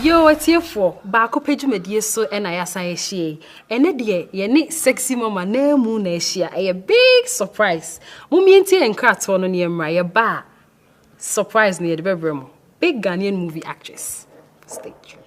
Yo atiefoɔ, baako pɛ dwumadie so na yɛasan ahyia yi. Ɛnɛ deɛ yɛne sexy mama naa mu na ahyia ɛyɛ big surprise momie ntie yɛn nkratoɔ no ne yɛn mmra yɛba a surprise no yɛde bɛbrɛ mo big Ghanaian movie actress stage.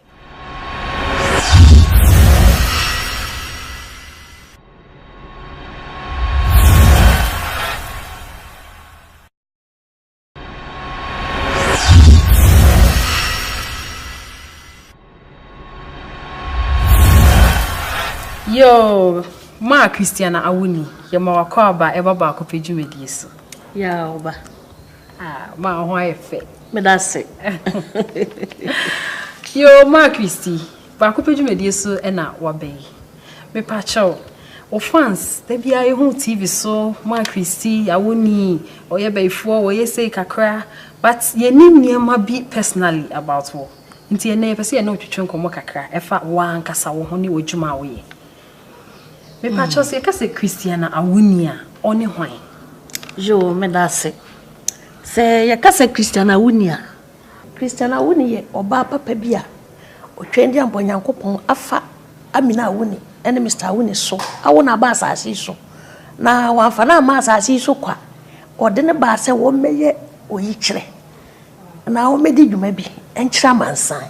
Yoo, maa Christiana awo ni, yɛma wakɔ aba ɛba baako pɛ dwumadie so. Yaa ɔba. Ah, maa ho ayɛ fɛ. Meda se. Yoo, maa Christy, Baako pɛ dwumadie so na waba yi. Mepakyɛw wo fans da biara yɛhu TV so ma Christy awoni ɔyɛ bayifoɔ ɔyɛ sei kakra but yɛnnim nneɛma bi personally about wo nti ɛnnɛ yɛpɛ sɛ yɛne wo twetwe nkɔmmɔ kakra ɛfa wo ara ankasa wo ho ne w'adwuma a woyɛ. Mepakyɛw sɛ yɛka sɛ Christiana Awoni a ɔne hwan? Yoo, meda ase. Sɛ yɛka sɛ Christiana Awoni a, Christian Awuni yɛ ɔbaa papa bi a ɔtwɛn de abɔ Nyankopɔn afa Amina Awuni ne Mister Awuni so awo no aba asase yi so. Na wɔamfa no amma asase yi so kwa. Wɔde no baa sɛ wɔmmɛyɛ oyikyerɛ na wɔmmɛdi dwuma bi nkyerɛ amansan.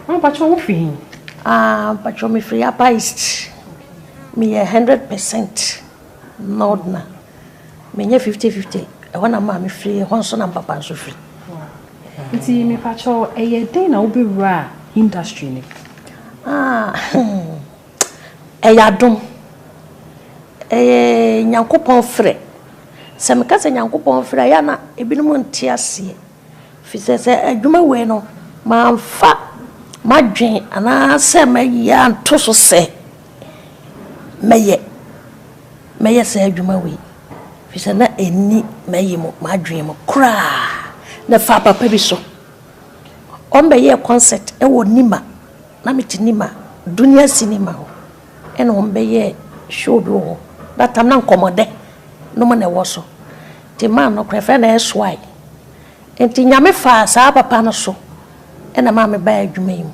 Mpakyɛ wo fi he? Ah, mpakyɛ me firi Upper East. Meyɛ 100% Northerner. Menyɛ fifty fifty, ɛhɔ na maame firi, ɛhɔ nso na mpapa nso firi. Nti mepakyɛw, ɛyɛɛ dɛn na wobɛwuraa industry no mu? Ah, ɛyɛ adom. Ɛyɛ Nyankopɔn frɛ. Sɛ meka sɛ Nyankopɔn frɛ a, ɛyɛ a na ebinom nte aseɛ. Efisɛ sɛ adwuma wei no, mamfa m'adwene anaasɛ m'ayi anto so sɛ mɛyɛ, mɛyɛ saa adwuma wei, efisɛ na enni m'ayi mu, m'adwene mu koraa. Na fa papa bi so. Wɔbɛyɛɛ concert wɔ Nima, na mete Nima, Dunia Cinema hɔ. Nna hɔn bɛyɛ show bi wɔ hɔ, that time na nkɔmbɔdɛ no mu na ɛwɔ so, ntsi man no koraa yɛfrɛ no SY, ntsi Nyame faa saa papa no so na maa mebaa edwuma yi mu,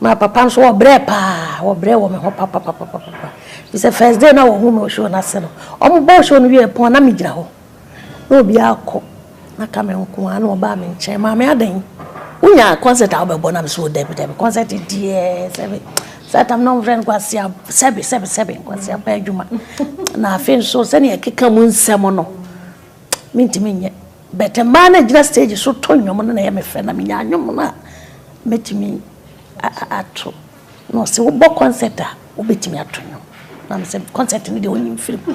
na papa no so wɔbrɛɛ paa, wɔbrɛɛ wɔ me ho papapapapapa, firi sɛ first day no a wɔhun me wɔ show no ase no, wɔbɔɔ show no wiee pon a na megyina hɔ. na obiara akɔ na ka me nko ara na ɔbaa me nkyɛn maame adɛn wonya concert a wobɛbɔ na mesɛ dabi dabi concert deɛ sɛbe saa tam na ɔmfrɛ no kwasea sɛbe sɛbe sɛbe kwasea pɛ adwuma na afei nso sɛnea ɛkeka mu nsɛm no mentumi nyɛ bɛtɛ mmaa no gyina stage so to nnwom no na ɛyɛ me fɛ na menya nnwom no a mɛtumi ato na ɔsɛ wobɔ concert a wobɛtumi ato nnwom na mesɛ concert no deɛ ɔnyim firi mu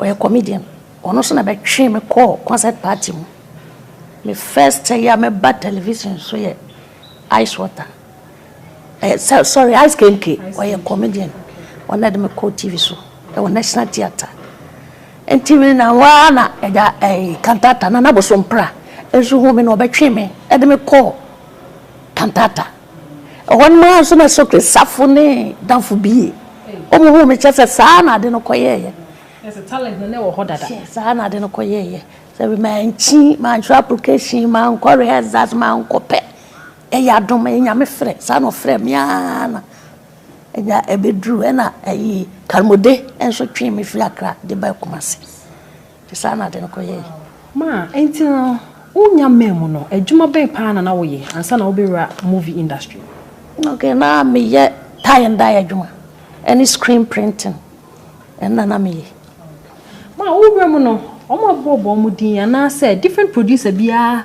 Ɔyɛ comedian, ɔno nso na bɛtwee me kɔɔ concert party mu. Me first a yɛ a mɛba television so yɛ Ice Water, ɛɛ sɛ sorry Ice Kenke, ɔyɛ comedian, ɔno na ɛde me kɔɔ TV so wɔ National Theatre. Nti me na hɔ ara na agya ɛɛ Kantata, Nana Bosompra nso huu me na ɔbɛtwee me de me kɔɔ Kantata. Ɛhɔ no mu ara nso na sokwe safo ne damfo bi yɛ. Wɔn huu me kyɛ sɛ saa na ade no kɔyɛeɛ. Sɛ talent no na ɛwɔ hɔ dada. Hwɛ, saa na ade no kɔyɛeɛ. Sɛ me mankyi, mantwerɛ application, mankɔ rehearsals, mankɔ pɛ. Ɛyɛ adom, ɛyɛ Nyame frɛ. Saa na ɔfrɛɛ me ara na ɛnya ɛbɛduruu. Ɛna ayi, Karmode nso twee me firi Accra de baa Kumasi. Saa na ade no kɔyɛe. Ma enti no wo nya mmaa mu no adwuma bɛn paa na na woyɛ ansa na wobɛwura movie industry mu? Okay na me yɛ tie and dye adwuma ɛne screen printing ɛno na na me yɛ. Ma wo wura mu no wɔn abɔ bɔ wɔn din anaa sɛ different producer biara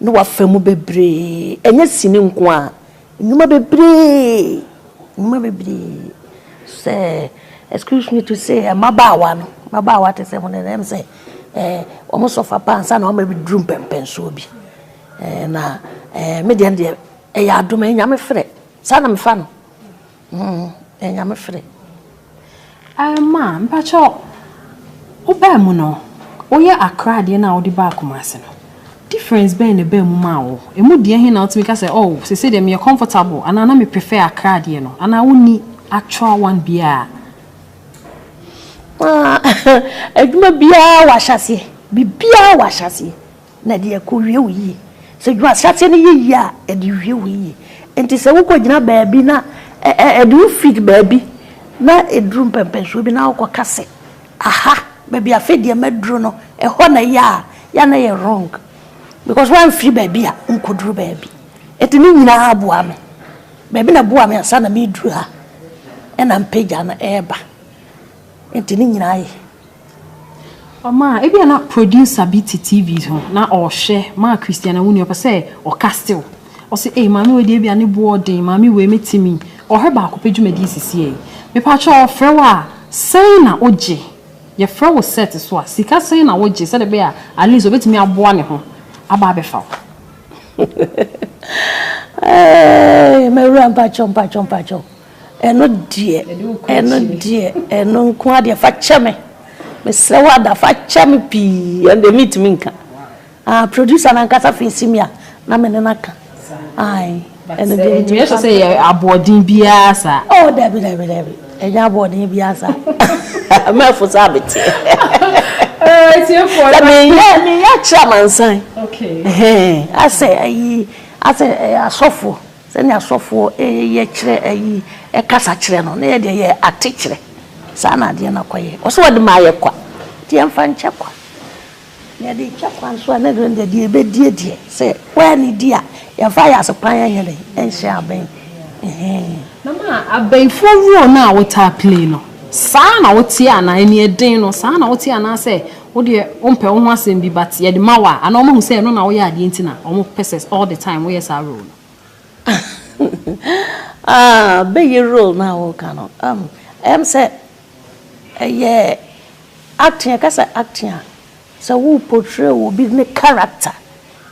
ne w'afa mu bebree, ɛnyɛ sini nko ara, nnwuma bebree, nnwuma bebree, sɛ, excuse me to say, mmabaawa no, mmabaawa te sɛ mo no, ɛyɛ me sɛ ɛɛ wɔn sɔfa pa ansa na wɔn abɛduru mpɛnpɛnsoɔ bi. Ɛɛ na ɛɛ me deɛ, ɛno deɛ ɛyɛ adom, ɛyɛ Nyame frɛ, saa na mefa no. Humm ɛyɛ Nyame fre. Aah ma mpakyɛ wo baa mu no wo yɛ Accra adeɛ no a wo de baa Kumasi no difference bɛn na ɛbaa mu maa wo ɛmu deɛ he na wo tumi ka sɛ oh seisei deɛ me yɛ comfortable anaa na me prefer Accra adeɛ no anaa wo nni actual one biaa. Aah adwuma biaa wɔ ahyɛseɛ biribiaa wɔ ahyɛseɛ. Na ɛde akowie wo yie. Sɛ dwuma ahyɛaseɛ no yɛ yie a, ɛde wie wo yie. Enti sɛ wokɔgyina baabi na ɛde wo fi baabi na ɛduru mpɛmpɛnsoɔ bi na wokɔka sɛ, aha, baabi a afei deɛ maduru no, ɛhɔ na ɛyɛ a, yɛ a na ɛyɛ wrong. Because woamfiri baabi a wonkɔduru baabi. Enti ne nyinaa boa me. Baabi na ɛboaa me ansa na mereduru ha, ɛna mpagya no reba. Enti ne nyinaa yɛ. Ɔmaa ebi a na producer bi te TV ho na ɔrehwɛ maa Christiana Wuni ɔpɛ sɛ ɔka still. Ɔse ei maame wei deɛ ebi a ne boɔ den maame wei me te mi ɔhwɛ baako pɛ dwumadie sisi ei. Mepa kyɛw ɔfrɛ wo a sɛn na wo gye? Yɛfrɛ wo set so a sika sɛn na wo gye sɛdeɛ ɛbɛyɛ a at least ɔbɛtumi aboa ne ho aba abɛfa wo? Eeii mawura mpakyɛw mpakyɛw mpakyɛw Ɛno deɛ, ɛno deɛ, ɛno nko ara deɛ, fa kyɛ me. Mesrɛ wo Ada, fa kyɛ me pii. Ɛno deɛ, mentumi nka. Ah, producer no ankasa feesi me a, na me ne no aka. Ae, ɛno deɛ, mentumi nka. Ɛtumi ahyɛ sɛ ɛyɛ aboɔden biara saa. Oh, dabi, dabi, dabi. Ɛnyɛ aboɔden biara saa. Mɛfo saa meteɛ. Sɛ meyɛ, meyɛ akyerɛ amansan. Okay. Asɛ, ayi, asɛ asɔfoɔ. Sɛnea asɔfoɔ yɛ kyerɛ ayi kasa kyerɛ no, na yɛ deɛ yɛ ate kyerɛ. Saa na adeɛ no akɔyɛ. Ɔsɛ wɔde ma ayɛ kwa, nti yɛmfa nkyɛ kwa. Na yɛde rekyɛ kwa nso a, na ɛno deɛ, deɛ yɛbɛdie deɛ, sɛ woa ne di a, yɛmfa ayasepan nyɛ dɛn? Nhyɛ abɛn. Ɛhee. Na ma abɛnfoɔ role no a wotaa play no, saa na woteɛ anaa? Aniɛden no, saa na woteɛ anaasɛ. Wo deɛ wompɛ wo ho asɛm bi but yɛde ma wo a ana wɔn ahu sɛ ɛno na woyɛ adeɛ nti na wɔn pɛ sɛ all the time woyɛ saa role no. Ah bɛyɛ role no a woka no umm ɛyɛ me sɛ ɛyɛ acting yɛka sɛ acting a sɛ wo portray obi ne character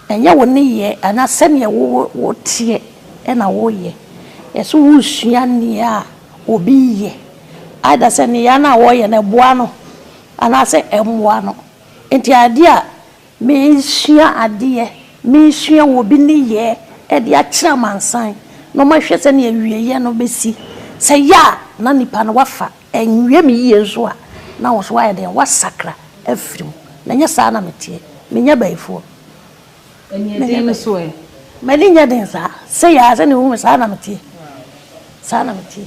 ɛnyɛ wo nneyɛɛ anaa sɛdeɛ wo teɛ ɛna wo yɛ yɛ sɛ wo sua nneɛ a obi yɛ either sɛ nneyɛɛ no a wɔyɛ no ɛboa no. Anaasɛ ɛmmoa no. Enti adeɛ a mesua adeɛ, mesua wɔ obi nneyɛɛ de akyerɛ amansan na wɔahwɛ sɛdeɛ awieeɛ no bɛsi. Sɛ ɛyɛ a na nipa no wafa, anwie me yie nso a, na wo nso woayɛ dɛn? Woasakra afiri mu. Na ɛnyɛ saa na meteɛ. Menyɛ abayifoɔ. Aniɛden no so ɛ? M'ani nyɛ den saa. Sei ara, sɛdeɛ wohu me saa na meteɛ. Saa na meteɛ.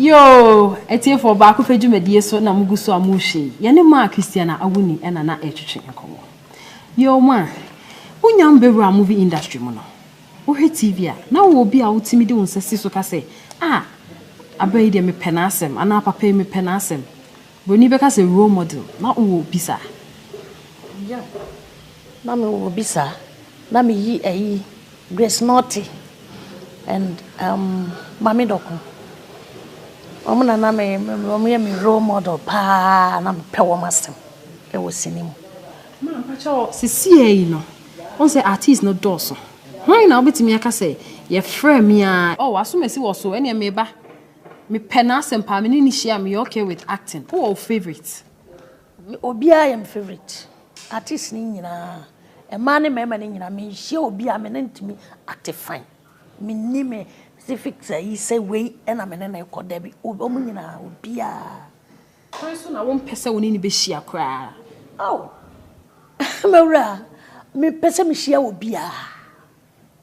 Yoo! Atiefoɔ, Baakofɛ dwumadie so na mogu so a morehwɛ yi, yɛne Maa Christiana Awuni na na ɛretwetwe nkɔmmɔ. Yoo Maa, wonya wo bɛwuraa movie industry mu no, wohwɛ TV a, na wowɔ obi a wotumi de wo nsa si so ka sɛ, Ah! Abaa yi deɛ mepɛ n'asɛm anaa Papa yi mepɛ n'asɛm. Broni bɛka sɛ role model, na wowɔ obi saa? Yea, na me wɔ obi saa. Na me yi ɛyi Grace Nortey and um Maame Dɔko. Wɔn na na me, wɔn yɛ me role model paa, na me pɛ wɔn asɛm ɛwɔ sini mu. Maa mpakyɛw sesiɛ yi no, wɔn sɛ artist no dɔɔso. Hwan na wobɛtumi aka sɛ yɛfrɛ me aa? Oh, w'asomasi wɔ so, ɛneɛ meba. Me pɛ n'asɛm paa me ne no hyia a me yɛ okay with acting. Wo wɔ wo favourite? Me obiara yɛ me favourite artist no nyinaa mmaa ne mmarima no nyinaa me nhyia obi a me ne no ntumi act fine me nni me specific ayi sɛ wei na me ne no rekɔ dabi wɔn nyinaa obiara. Kwan so na wo mpɛ sɛ wo ne no bɛ hyia koraa? Oh! M'awura me pɛ sɛ me hyia obiara.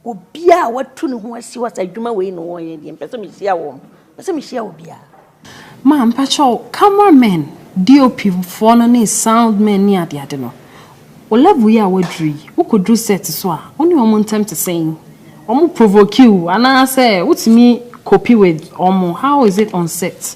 Obiara a watu ne ho asi hɔ sɛ adwuma wei na wɔyɛ deɛ mpɛ sɛ mehyia wɔn. Mpɛ sɛ mehyia obiara. Ma mpakyɛw camera men, DOP foɔ no ne sound men ne ade ade no, wo level yi a woaduru yi, wokɔduru set so a, wo ne wɔn ntɛm te sɛn? Wɔn provoke wo anaasɛ wotumi cope with wɔn? How is it on set?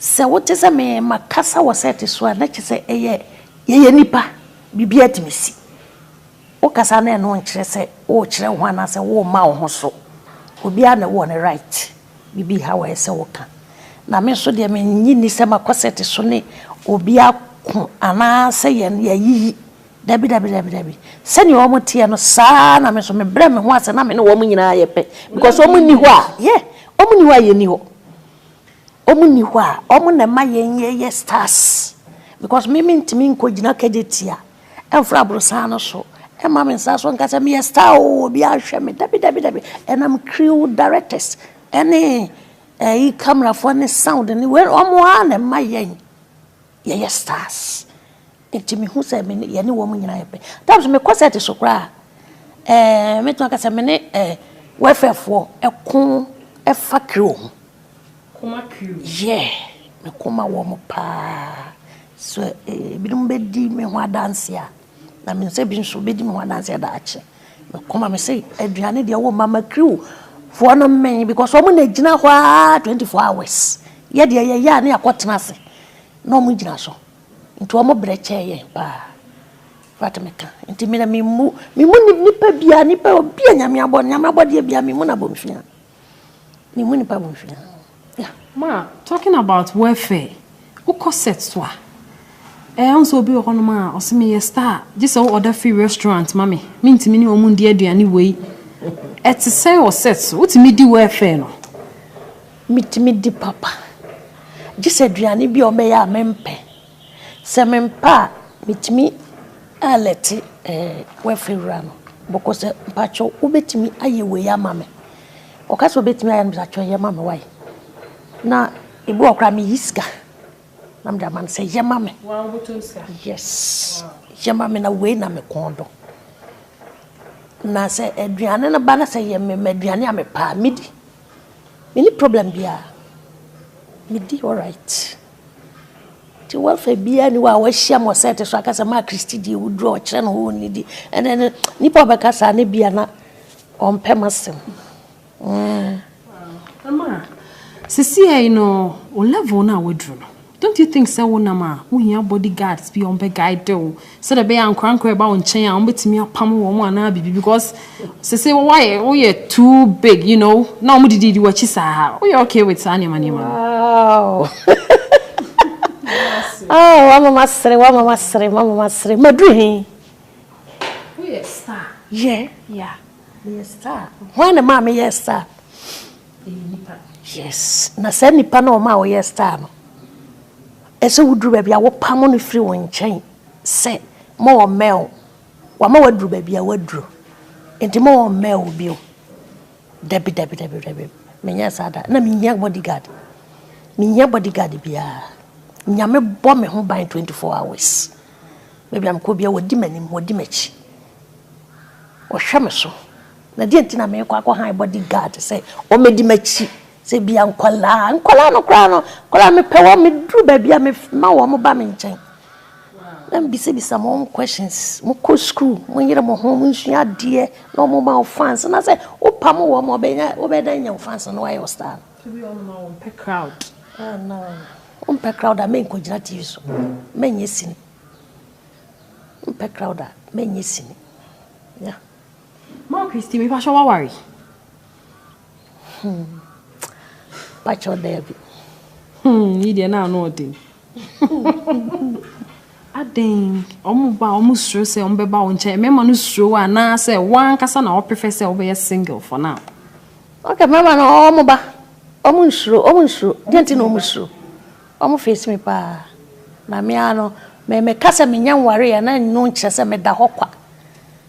Sɛ wote sɛ me makasa wɔ sɛɛte so a, na kyerɛ sɛ ɛyɛ yɛyɛ nnipa, biribiara tumi si. Wokasa na ɛno nkyerɛ sɛ worekyerɛ wo ho anaasɛ worema wo ho so. Obiara na ɔwɔ ne right, biribi nha wo a ɛsɛ sɛ woka. Na me nso deɛ mennye nni sɛ makɔ sɛɛte so ne obi ako anaasɛ yɛn yɛayiyi. Dabi dabi dabi dabi. Sɛdeɛ wɔteɛ no saa ara na me nso mebrɛ me ho ase na me ne wɔn nyinaa yɛ pɛ because wɔnni hɔ a yeah wɔnni hɔ a yɛnni hɔ. Ɔmo nni hɔ a, ɔmo na ɛma yɛn yɛyɛ stars because me mentumi nkɔ gyina kɛgye tia ɛmfra aborosan no so ɛmma me nsa so nka sɛ meyɛ star oo obiara nhwɛ me dabi dabi dabi ɛnam crew directors ɛne ɛyi camera foɔ ne sound ne wei ɔmo ara na ɛma yɛn yɛyɛ stars. Nti me hu sɛ me ne yɛne wɔn nyinaa yɛ pɛ. At times me kɔ set so koraa ɛɛ me tumi aka sɛ me ne ɛɛ welfare foɔ ɛko ɛfa crew ho. Koma crew. Yeah me ko ma wɔn paa so ebinom bɛ di me ho adanse a na me nsɛ bi nso bɛ di me ho adanse daakye me ko ma me se aduane deɛ wɔn mama crew foɔ no mmɛn because wɔn na gyina hɔ aa twenty four hours yɛ deɛ yɛ yɛ a ne akɔ tena ase na wɔn gyina so. Nti wɔn brɛ kyɛɛ yɛn paa. Infact me ka nti me na me mu me mu ni nipa bia nipa obi a nyame abɔ nyame abɔdeɛ bia me mu na bonfia me mu nipa bonfia yeah. Ma talking about welfare wokɔ set so a ɛɛ ɔn sɛ obi wɔ hɔnom a ɔsɛ me yɛ star gye sɛ wo order free restaurant ma me me ntumi ne wɔn ndi aduane wei ɛte sɛn wɔ set so wotumi di welfare no Metumi di papa, gye sɛ aduane bi a wɔbɛyɛ a mempɛ. Sɛ mempɛ a, metumi alɛte Wɛfe wura no bɔkɔ sɛ, mpakyɛw wobɛtumi ayɛ wei ama me? Ɔka sɛ ɔbɛtumi ayɛ a, na me sɛ atwerɛ, yɛ ma me wai? Na ɛbi wɔ hɔ koraa a, meyi sika na mede ama no sɛ yɛ ma me. Woaa wobɛtɔ wo sika? Yes, yɛ ma me na wei na me kɔn dɔ. Na sɛ aduane no ba na sɛ yɛ mema aduane a mepɛ a, medi. Menni problem biaa, medi alright. Nti w'afa biaa nni hɔ a w'ahyiam wɔ set so aka sɛ maa Christy deɛ woduru a ɔkyerɛ ne ho onnidi ɛnɛ no nnipa ɔbɛka saa no bia na ɔmpɛ m'asɛm. Ɛmaa sisiɛ yi no wo level no a w'aduru no Don't you think sɛ wonam a, wohia body guards bi a wɔbɛ guide wo sɛdeɛ ɛbɛyɛ a ankorankora a ɛba wo nkyɛn a wɔbɛtumi apam wɔn anaa biribi because sese woayɛ woyɛ too big you know na wɔn dididi w'akyi saa woyɛ okay with saa nneɛma nneɛma no. Wow oh wama masere wama masere mama masere maduru he. Woyɛ star. Yɛ. Yeah. Meyɛ star. Hwan na ɛmaa meyɛɛ star? Ɛyɛ nipa. Yes na saa nipa no a ɔmaa woyɛɛ star no, ɛsɛ woduru baabi a wopamo no firi wo nkyɛn sɛ ma ɔmmɛn wo. Wama woaduru baabi a woaduru nti ma ɔmmɛn wo bio. Dabi dabi dabi dabi menyɛɛ saa da. Na menhia body guard. Menhia body guard biara. Nyame bɔ me ho ban 24 hours. Baabi a mekɔ biara wɔdi m'anim wɔdi m'akyi. Wɔhwɛ me so. Na deɛ nti na merekɔ akɔ han body guard sɛ wɔmɛdi m'akyi sɛ bia nkwadaa nkwadaa no koraa no nkwadaa mepɛ wɔn meduru baabi a mema wɔn ba me nkyɛn na mbisabisa mo wɔn questions mo kɔ school mo yere mo ho mo nsua adeɛ na wɔn ma wɔn fans na sɛ wopa mo wɔn wɔbɛnya wɔbɛdan nya wɔn fans na wɔayɛ wɔ star wɔmpɛ crowd wɔmpɛ crowd a menkɔ gyina tv so menyɛ sini wɔmpɛ crowd a menyɛ sini yeah. Ma Christy mi pahyɛ waware. Hmm. Pacho Debbie. Hmm, yi deɛ na ano ɔden. Aden, ɔmo ba ɔmo suro sɛ ɔmo bɛba wo nkyɛn. Mmarima no suro wo anaasɛ wankasa na ɔpefɛ sɛ wobɛyɛ single for now. Okay, mmarima no ɔmo ba. Ɔmo nsuro, ɔmo nsuro. Deɛ nti na ɔmo suro. Ɔmo face me paa. Na me ano, me meka sɛ menya nware yɛ na ɛno nkyerɛ sɛ meda hɔ kwa.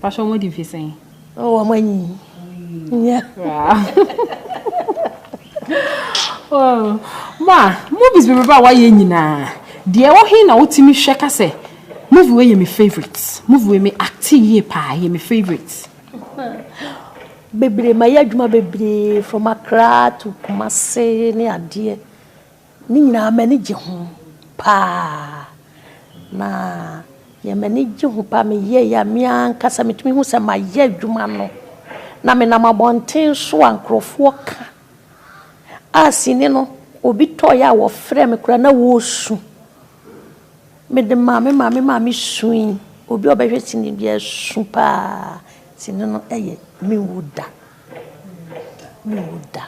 Pastor wɔn di mfe sɛn? Oh, wɔn anyi. Nya. Oh, ma movies bebrebe a wɔayɛ nyinaa deɛ ɛwɔ he na wotumi hwɛ ka sɛ movie wei yɛ me favourite movie wei me acte yie paa yɛ me favourite. Bebree ma yɛ adwuma bebree from Accra to Kumasi ne adeɛ Ne nyinaa m'ani gye ho paa na deɛ m'ani gye ho paa meyɛɛe a me ara ankasa metumi hu sɛ mayɛ adwuma no na menam abɔnten so a nkurɔfoɔ ka a sini no obi tɔeɛ a wɔfrɛ me koraa na wɔresu mede maa me maame maame sui obi a ɔbɛhwɛ sini biara su paa sini no yɛ menwu da. Menwu da.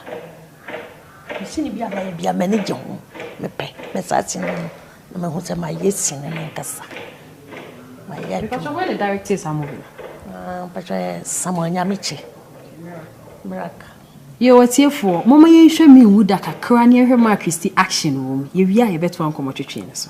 Me sini biara mɛyɛ biara m'ani gye ho. Mepɛ. Me saa sini no na mahu sɛ mayɛ sini m'ankasa. Mayɛ adwuma. Mpatsɔ hɔn na directee saa movie no? Ah, mpatsɔ yɛ Samuel Nyamekye. Miracle. Yo atiefoɔ, momma yɛnhwɛ Menwu Da kakra na yɛnhwɛ Mark Christie action wɔ mu. Yɛwie a yɛbɛtoa nkɔmmɔtwetwe no so.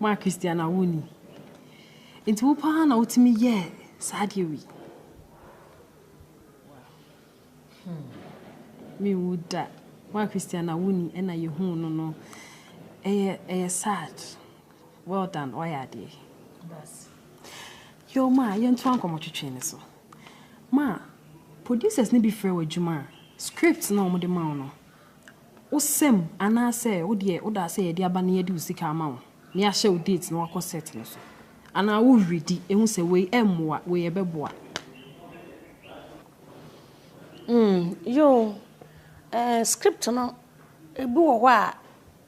Moa Christiana wo ni. Nti wo paa na wotumi yɛɛ saa deɛ wei. Me wu da. Moa Christiana wo ni ɛna yɛhuu no no. Ɛyɛ ɛyɛ sad. Well done wayɛ adeɛ. Yo ma yɛntoa nkɔmmɔ twetwe no so. Ma producers no bi frɛ wo adwuma a script no a wɔde ma wo no. wo sɛm anaasɛ wo deɛ woda asɛ yɛde aba na yɛde wo sika ama wo na yɛahyɛ wo date na wakɔ set no so anaa wo were di ɛhu sɛ wei ɛmmoa wei ɛbɛboa. Mm yoo eh script no ebi wɔ hɔ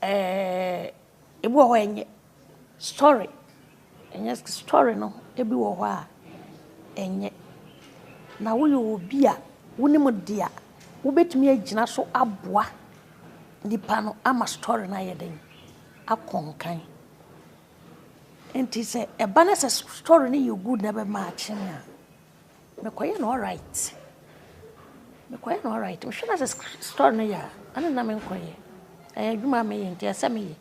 a eh. Ebi wɔ hɔ a ɛnyɛ story, ɛnyɛ story no ebi wɔ hɔ a ɛnyɛ. Na woyɛ obi a wonim de a, wobɛtumi agyina so aboa nnipa no ama story no ayɛ den, akɔ nkan. Nti sɛ ɛba ne sɛ story no yɛ good na ɛbɛmaakye a. Mekɔyɛ no alright mekɔyɛ no alright mehwɛ no asɛ store no yɛ a ɛne na menkɔyɛ ɛyɛ adwuma a meyɛ nti ɛsɛ meyɛ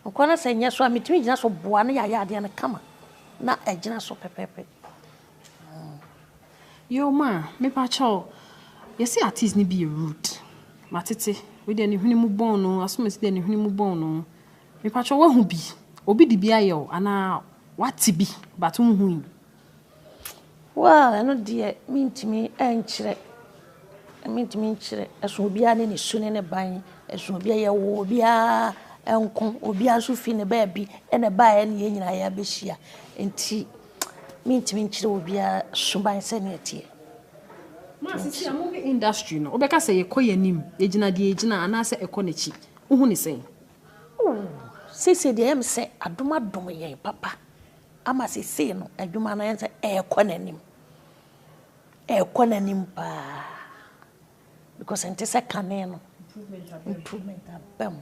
nkɔ no sɛ nyɛ so a metumi gyina so boa no yɛayɛ adeɛ no kama na ɛgyina so pɛpɛpɛ yɛwoma a mepakyɛw yɛsɛ artist no bi yɛ rude matete wei deɛ ne hwene mu bɔn no asomasi deɛ ne hwene mu bɔn no mepakyɛw wahu bi obi de bi ayɛ o anaa wate bi but wohui Wo a ɛno deɛ mentumi nkyerɛ, mentumi nkyerɛ. Ɛsɔ obiara ne ne su ne ne ban. Ɛsɔ obiara, yɛwɔ obiara nko. Obiara nso firi ne baabi na ɛbaeɛ ne yɛn nyinaa yɛabɛhyia. Enti mentumi nkyerɛ obiara suban sɛdeɛ ɛteɛ. Seesei a moyɛ industry no, wobɛka sɛ yɛkɔ yɛn anim, yɛgyina deɛ ɛgyina anaasɛ ɛkɔ n'akyi? Wohu no sɛn? Ooh, seesei deɛ ɛyɛ me sɛ adom adom yɛn papa. ama seesei no adwuma no ayɛ sɛ ɛrekɔ n'anim ɛrekɔ n'anim paa because ɛnte sɛ kane no improvement aba mu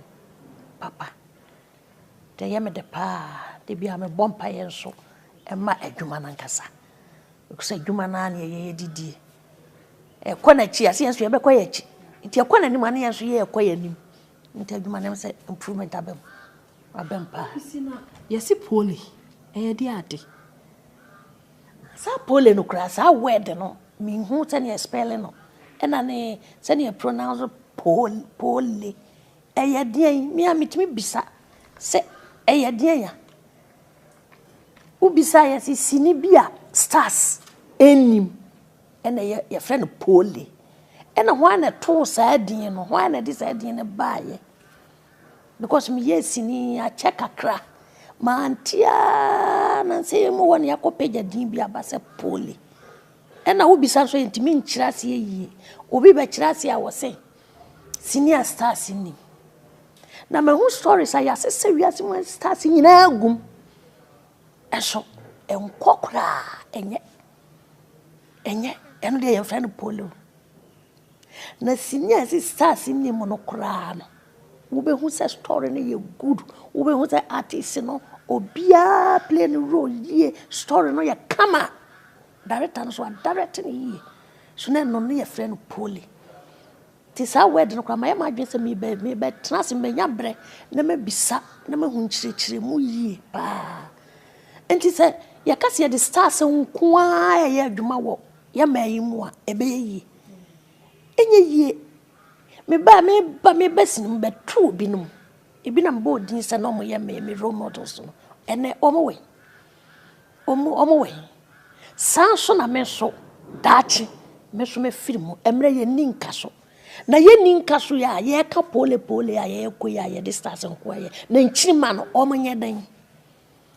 papa nti ɛyɛ me de paa de bi a mebɔ mpaeɛ nso ɛma adwuma no ankasa because adwuma no a na ɛyɛ yɛdidie ɛkɔ n'akyi a sɛ yɛn nso yɛbɛkɔ yɛn akyi nti ɛkɔ n'anim a ne yɛn nso yɛrekɔ yɛn anim nti adwuma no sɛ improvement aba mu Abɛmpa. Yɛse pole ɛyɛ de ade. Saa pole no koraa saa word no menhu sɛdeɛ yɛ spelling no ɛna ne sɛdeɛ yɛ pronounce pole pole ɛyɛ deɛn me a metumi bisa sɛ ɛyɛ deɛn a wobisa yɛ sɛ sini bi a stars ɛnnim ɛna yɛ yɛfrɛ no pole ɛna hwan na ɛtoo saa din no hwan na ɛde saa din no baayɛ. Because me yɛɛ sini akyɛ kakra ma ante aa na nsɛ yɛ mu hɔ na yɛ akɔ pagya din bi aba sɛ poly ɛna wo bisa nso yɛ ntumi nkyerɛ aseɛ yie obi bɛ kyerɛ aseɛ a wɔ sɛ sini a stars nni na ma ho stories a yɛ ase sɛ wiase mu stars nyinaa gum ɛso ɛnkɔ koraa ɛnyɛ ɛnyɛ ɛno deɛ yɛn fɛ no poly o. Na sini a ɛsɛ stars nni mu no koraa no wobɛhu sɛ story no yɛ good wobɛhu sɛ artist no obiara play no role yie story no yɛ kama director no so adirect no yie so na ɛno no yɛfrɛ no poly nti saa word no koraa mayɛ m'adwene sɛ mebɛtena ase manya berɛ na mabisa na mahu nkyerɛkyerɛ mu yie paa nti sɛ yɛka sɛ yɛde stars nko ara ɛyɛ adwuma wɔ Yɛ mmaa yi mu a ɛbɛyɛ yie. Ɛnyɛ yie. Me ba a meba me ba si no mebɛto binom. Ebi na mebɔɔ din sɛ na wɔyɛ me me role models no. Ɛnnɛ wɔwɔ he? Wɔn wɔwɔ he? Saa ara nso na me nso daakye me nso mɛfiri mu. Ɛmmerɛ yɛnni nka so. Na yɛnni nka so yi a yɛreka poole poole a yɛrekɔ yi a yɛde stars nko ara yɛ. Na nkyirimma no wɔnyɛ dɛn?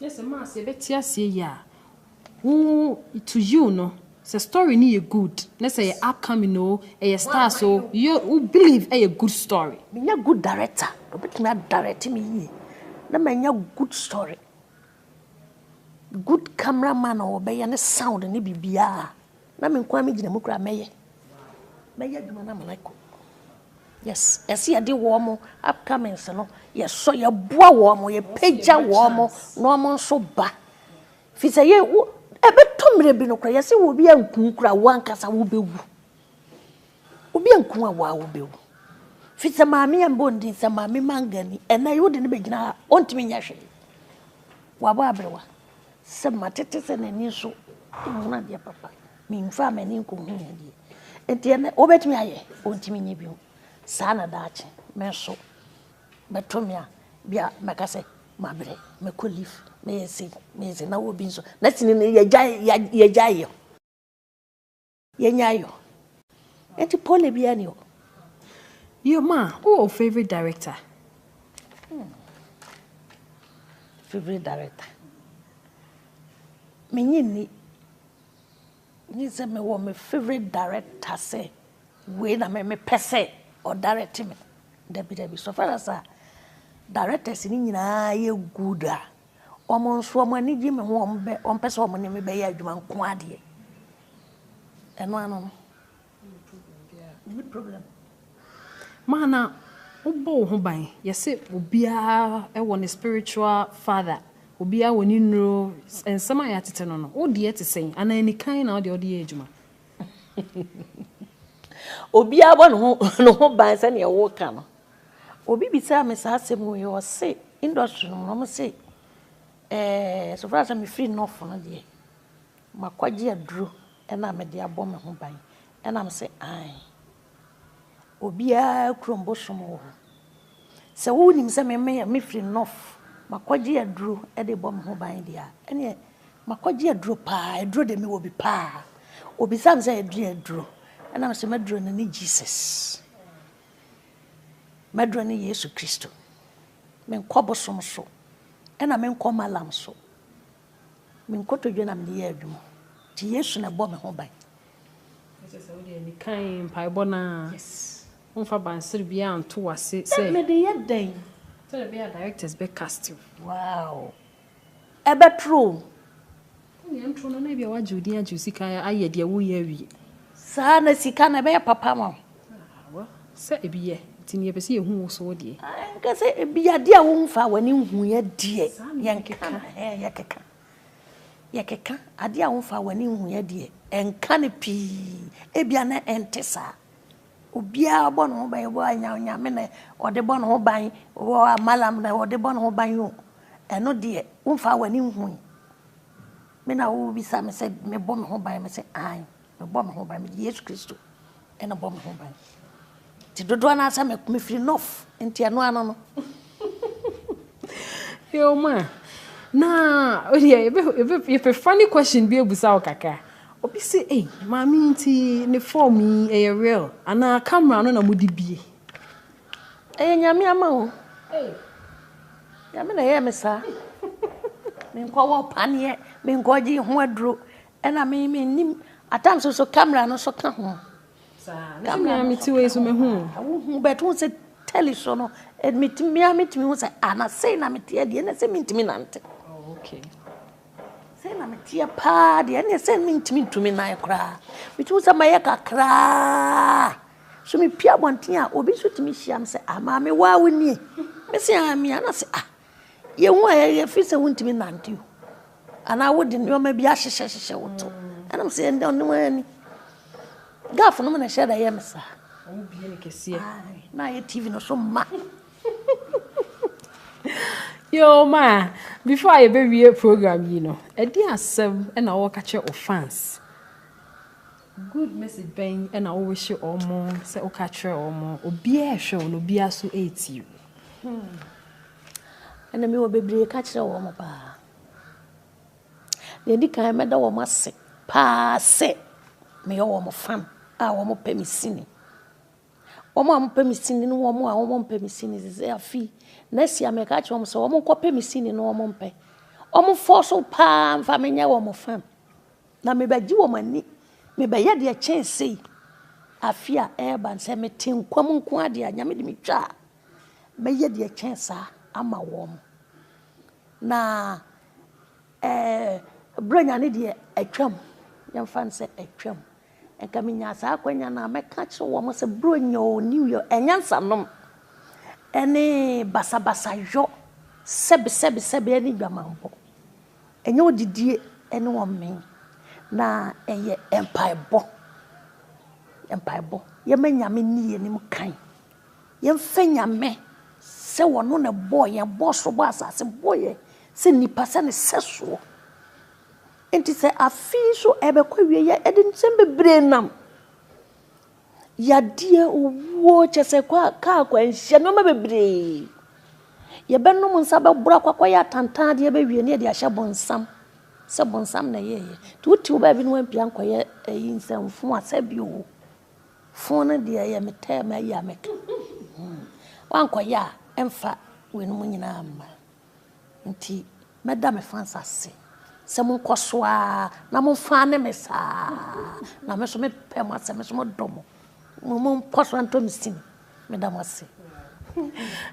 Na sɛ maa sɛ yɛbɛ te aseɛ yie a wo to you no sɛ story no yɛ good na sɛ ɛyɛ upcoming oo ɛyɛ stars oo yɛ wo believe ɛyɛ good story. Me nyɛ good director na ɔbɛtumi a direct me yie na ma nya good story good camera man a ɔbɛyɛ ne sound ne biribiara. Na me nko ara megyina mu koraa mɛyɛ mɛyɛ adwuma no amena kɔ yes yɛsi yɛde wɔn upcomings no yɛsɔ yɛboa wɔn yɛpagya wɔn na wɔn nso ba fi sɛ yɛ wo ɛbɛtɔ mmerɛ bi no koraa yɛsi wɔ bi anku koraa wɔn ankasa wobɛwu. Obi anku a waa wobɛwu. Fi sɛ maame yɛ mbɔ ndin sɛ maame mangani ɛnɛ wode no bɛgyina ha ɔntumi nyɛ hwee. Wabɔ aberewa sɛ matete sɛ n'ani nso nhunu adeɛ papa memfaa m'ani nkɔhunu adeɛ nti ɛnɛ wobɛtumi ayɛ ɔntumi nyɛ bio saa na daakye me nso bɛto me a bi a mɛka sɛ mabrɛ mɛkɔ leaf mɛyɛ sei mɛyɛ sei na wɔ bi nso na sini no yɛgyae yɛgyae yɛ Yɛnya ayɔ. Enti pole biara ni hɔ. Yoma, wowɔ wo favorite director? Hmm. Favorite director. Menye ni. Nye sɛ mewɔ me favorite director sɛ wei na me mepɛ sɛ ɔdirect me. Dabi dabi. So far as a directors ni nyinaa yɛ good a, wɔn nso wɔn ani gye me ho wɔn bɛ wɔn pɛ sɛ wɔn ne me bɛyɛ adwuma nko adeɛ. Ɛno ano no. Menni problem biara. Maa na wobɔ wo ho ban. Yɛse obiara wɔ ne spiritual father. Obiara wɔ ne nnuro. Nsɛm a yɛatete no no, wo deɛ te sɛn? Anaa anikan na wo deɛ wode yɛ adwuma? Obiara bɔ ne ho ban sɛdeɛ woreka no. Obi bisaa me saa asɛm wei, ɔse industry no mu no, wɔse, eh, so far sɛ mefiri North no deɛ, Makɔgye aduro na mede abɔ me ho ban? Ɛna me se, Aane. Obiara kurom bosom wɔ hɔ. Sɛ wonim sɛ me mefiri North, makɔgye aduro de rebɔ me ho ban deɛ a, ɛneɛ makɔgye aduro pa ara, aduro deɛ mewɔ bi pa ara. Ɔbisaa me sɛ, Ɛdeɛn aduro? Ɛna me se, M'aduro no ne Jesus. M'aduro ne Yesu Kristo. Menkɔ bosom so. Ɛna menkɔ Malam so. Me nkotodwe na mede yɛ adwuma. Nti Yesu na ɛbɔ me ho ban. Na kyerɛ sɛ wo deɛ ne kan mpaebɔ no ara. Yes. Womfa bansere biara nto w'ase sɛ. Mede yɛ dɛn? Sɛdeɛ ɛbɛyɛ a directors bɛ cast wo. Wow. Ɛbɛtoro o. Wo nea ntoro no na ebia wagye wo din agye wo sika ayɛ deɛ woreyɛ awie. Saa na sika na ɛbɛyɛ papa ama wo. Ah well sɛ ebi yɛ nti nea ɛpɛ sɛ yɛhu wo so deɛ. Ah nka sɛ ebi adeɛ a womfaa w'ani nhuiɛ deɛ yɛnka no hɛn yɛkeka yɛkeka adeɛ a womfaa w'ani nhuiɛ deɛ ɛnka no pii ebia na ɛnte saa obiara bɔ ne ho ban obi wɔ Nyame na ɔde bɔ ne ho ban obi wɔ Malam na ɔde bɔ ne ho ban o ɛno deɛ womfaa w'ani nhui. Me na wobisa me sɛ mebɔ me ho ban? Mese aane, mebɔ me ho ban, mede Yesu Kristo na ɛbɔ me ho ban. Nti dodoɔ no ara sɛ mefiri Nɔf, nti ɛno ano no. Yo ma, na odeɛ yɛpɛ funny question bi abusa wo kakra. Obi se, ei maame nti ne form yi ɛyɛ real anaa camera no na mode bie? Ɛyɛ nyame ama o. Nyame na ɛyɛɛ me saa. Menkɔ wɔ paneɛ, menkɔ gye ho aduro. Ɛna me menim atam so so camera no so ka ho. Camera me ti wei so me hu. Wohu bɛto ho sɛ tele so no. Metumi a metumi ho sɛ ana sei na meteɛ deɛ ɛna sɛ mentumi nante. Oh, okay. Sei na meteɛ paa deɛ ɛna sɛ mentumi ntumi nan koraa. Metumi sɛ mayɛ kakraa. So mepue abɔnten a, obi nso tumi hyia me sɛ, ah, maame, wo a wo nie? Mese, ah, mia. Na sɛ, ah, yɛhu a yɛyɛ firi sɛ wontumi nante o. Anaa wode nneɛma bi ahyehyɛ hyehyɛ wo to. Ɛna me sɛ, ɛnde ɔnom ani. Gafo nom na ɛhyɛ da yɛ me saa. Wobie ne kɛseɛ. Na ayɛ TV no so ma. Yo, ma, before a yɛbɛwie program yi no, ɛde asɛm na wɔka kyerɛ wo fans. Good message bɛn na wo wishe wɔn sɛ wo ka kyerɛ wɔn? Obiara ɛhwɛ wo na obiara so ɛretie wo. Hmm. Ɛna mi wɔ bebree ka kyerɛ wɔn paa. Deɛ di kan mɛda wɔn ase paa sɛ meyɛ wɔn fan a wɔn pɛ me sini. Wɔn a wɔpɛ me sini ne wɔn a wɔn mpɛ me sini sɛ afi na si a mɛka kyerɛ wɔn sɛ wɔn nkɔpɛ me sini na wɔn mpɛ. Wɔn fɔ so paa nfa menyɛ wɔn fan. Na mebɛgye wɔn ani, mebɛyɛ deɛ kyɛn sei, afe a ɛreba no, sɛ mete nkwa mu nko ara deɛ a, Nyame de me twa a, mɛyɛ deɛ kyɛn saa ama wɔn. Na ɛɛ, berɛ nya ne deɛ atwam, yɛmfa no sɛ atwam, nka menyaa saa akwanya no a, mɛka akyerɛ wɔn sɛ berɛ nya o, new year, anyansanom ne basabasayɔ, sɛbesɛbesɛbe ne dwamanbɔ. Ɛnyɛ ɔdidie ne ɔmee na ɛyɛ mpaebɔ. Mpaebɔ. Yɛma Nyame nni yɛn anim kan. Yɛmfa Nyame sɛ ɔno na ɛbɔɔ yɛn, bɔɔ soro, bɔɔ asase, bɔɔ yɛn sɛ nnipa, sɛ ne sɛsoɔ. Enti sɛ afe yi nso ɛrebɛkɔ awieeɛ a, yɛde nsɛm bebree nam. Yadeɛ, owuo, kyerɛ sɛ kɔ a kaa akwanhyia nneɛma bebree. Yɛbɛnom nsa bɛboro akɔ akɔyɛ atantan adeɛ bɛwie na yɛde ahyɛ bonsam sɛ bonsam na ɛyɛɛyɛ. Nti wote wo baabi na woampia ankɔyɛ ayi nsɛmfo a sɛ bi o, fo no deɛ ɛyɛ me tɛm ayi a mɛka. Woankɔyɛ a ɛmfa weinom nyinaa mma. Nti mɛda me fans ase sɛ monkɔ so ara na momfa ne me saa na me nso me pɛ mo asɛ me nso mo dɔ mo mo mo nkɔ so antɔ me sini meda mo ase.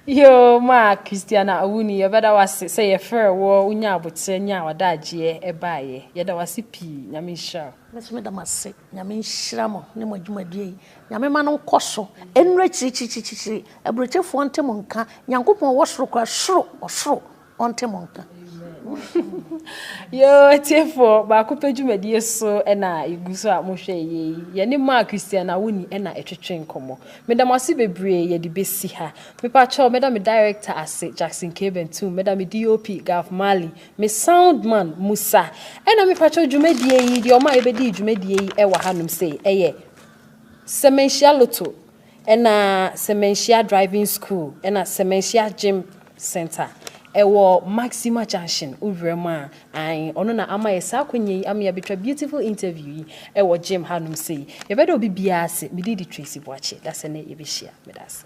Yoo maa Christiana Awuni yɛbɛda wase sɛ yɛfrɛ wɔ wonya aboterɛ nya ɔdaagyeɛ ɛbaayɛ yɛda wase pii Nyame nhyira wo. Me nso meda mo ase Nyame nhyira mo ne mo adwumadie yi. Nyame ma no nkɔ so nnuru akyirikyirikyirikyiri. Aburokyefoɔ ɔnte mo nka. Nyankopɔn ɔwɔ soro kora soro ɔsoro ɔnte mo nka. Yoo atiefoɔ baako pɛ dwumadie so ɛna egu so a mohwɛ ɛyɛ yi. Yɛne Mark Christian Awuni ɛna ɛtwetwe nkɔmɔ. Meda mo ase bebree yɛde besi ha. Mepakyɛw meda me director ase Jackson K Bentum, meda me DOP Gov Marley, Me sound man Musa ɛna mepakyɛw dwumadie yi deɛ ɔma yɛbɛdii dwumadie yi ɛwɔ ha nom sei ɛyɛ Semenhyia Lotto ɛna Semenhyia Driving School ɛna Semenhyia Gym Center ɛwɔ Maxima Junction wowura mu a ae ɔno na ama yɛ saa akwanya yi ama yɛabɛtwa beautiful interview yi ɛwɔ gym ha nom sei yɛbɛda obi biara ase me din de Tracy Boakye dasɛ nɛ yɛbɛhyia meda ase.